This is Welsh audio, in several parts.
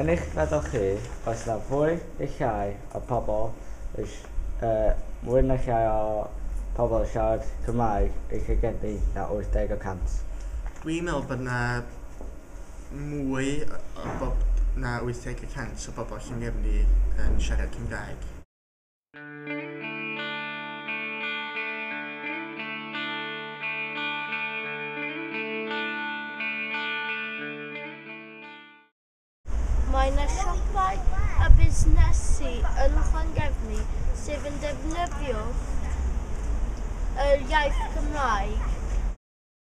Yn eich meddwl chi, oes 'na fwy neu llai o pobl yn si-, yy, mwy neu llai o pobl yn siarad Cymraeg yn lle geni na 80 y cant? Dwi'n meddwl bod 'na mwy o bob- na 80 y cant o bobl Llangefni yn siarad Cymraeg. Mae yna siopau a busnesu yn Llangefni sydd yn defnyddio yr iaith Gymraeg.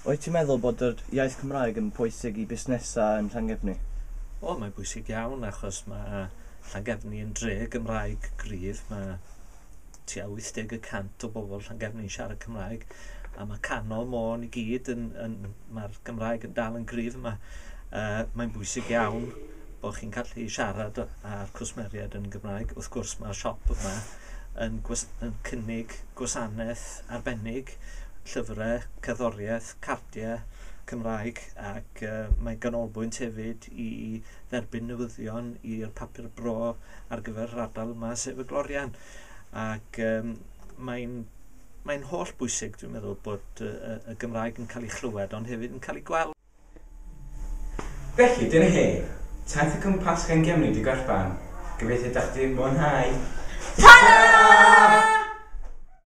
Wyt ti'n meddwl bod yr iaith Cymraeg yn pwysig i busnesau yn Llangefni? O, mae'n bwysig iawn achos mae Llangefni yn dre Gymraeg gryf. Mae tua 80 y cant o bobl Llangefni'n siarad Cymraeg a mae canol môn i gyd yn, yn mae'r Gymraeg yn dal yn gryf yma. Uh, mae'n bwysig iawn bod chi'n gallu siarad â'r cwsmeriaid yn Gymraeg. Wrth gwrs mae'r siop yma yn, gwas, yn cynnig gwasanaeth arbennig llyfrau, cerddoriaeth, cardiau Cymraeg ac uh, mae ganolbwynt hefyd i dderbyn newyddion i'r papur bro ar gyfer yr ardal yma, sef y Glorian. Ac um, mae'n mae holl bwysig, dwi'n meddwl, bod uh, y Gymraeg yn cael ei chlywed ond hefyd yn cael ei gweld. Felly, dyna hi. Taith y cwmpas gan Gemni di gorffan. Gobeithio dach di mwynhau. Ta-ra!